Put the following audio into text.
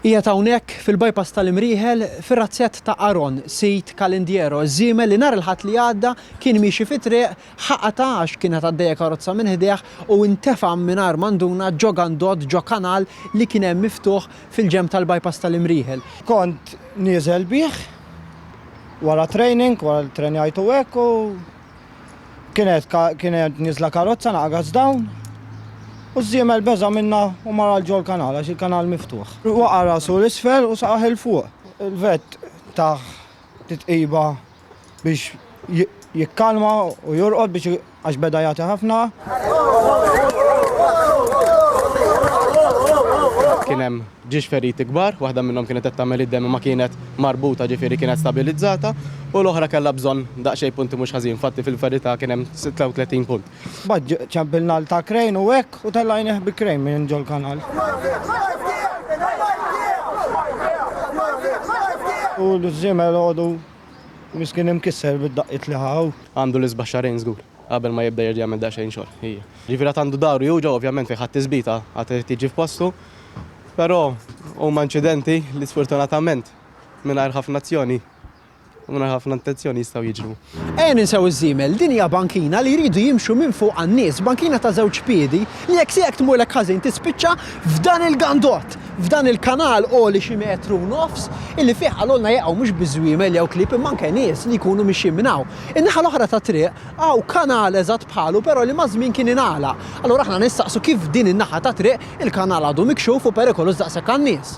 Qiegħed hawnhekk, fil-bypass tal-Imrieħel, fir-razzett ta' Aaron, sid Calendiero, ż-żiemel li nhar il-Ħadd li għadda kien miexi fit-triq, ħaqatha għax kienet għaddejja karozza minn ħdejh u intefa' mingħajr ma nduna ġo gandott, ġo kanal li kien hemm miftuħ fil-ġenb tal-bypass tal-Imrieħel. Kont nieżel bih wara training, wara li ttrenjajtu hekk u. kienet kienet niżla karozza naqgħas dawn u ż-żiemel beża' minnha u mar għal ġol kanal għax il-kanal miftuħ. Waqa' rasu l-isfel u saqaħ 'il fuq. Il-vett tah titqiba biex jikkalma u jorqod biex għax beda jagħti ħafna. Kien hemm Ġiex feriti kbar, waħda minnhom kienet qed tagħmel id-demm imma kienet marbuta ġifieri kienet stabilizzata u l-oħra kellha bżonn daqsxejn punti mhux ħażin, infatti fil-verità kien hemm 36 punt. Mbagħad ċempilna għal ta' Crane u hekk u tellgħajnieh bi Crane minn ġol-kanal. U l-żiemel għodu miskin imkisser bid-daqqiet li ħa hu. Għandu l-isbaħ xahrejn żgur qabel ma jibda jerġa' jagħmel daqsxejn xogħol, ija. Ġifieri għad għandu dahru juġa' ovvjament fejn ħa t-tisbita għad irid jiġi f'postu. Però huma inċidenti li sfortunatament mingħajr ħafna azzjoni u mingħajr ħafna intenzjoni jistgħu jiġru. Ejja ninsew iż-żiemel, din hija bankina li jridu jimxu minn fuqha n-nies, bankina ta' żewġ piedi li jekk se jekk tmurlek ħażin tispiċċa f'dan il-gandott, f'dan il-kanal għoli xi metru u nofs illi fih qalulna jaqgħu mhux biss żwiemel jew klieb imma anke nies li jkunu mixjin minn hawn. In-naħa l-oħra tat-triq hawn kanal eżatt bħalu però li maż-żmien kien ingħalaq. Allura aħna nistaqsu kif din in-naħa tat-triq Il-kanal għadu mikxuf u perikoluż daqshekk għan-nies.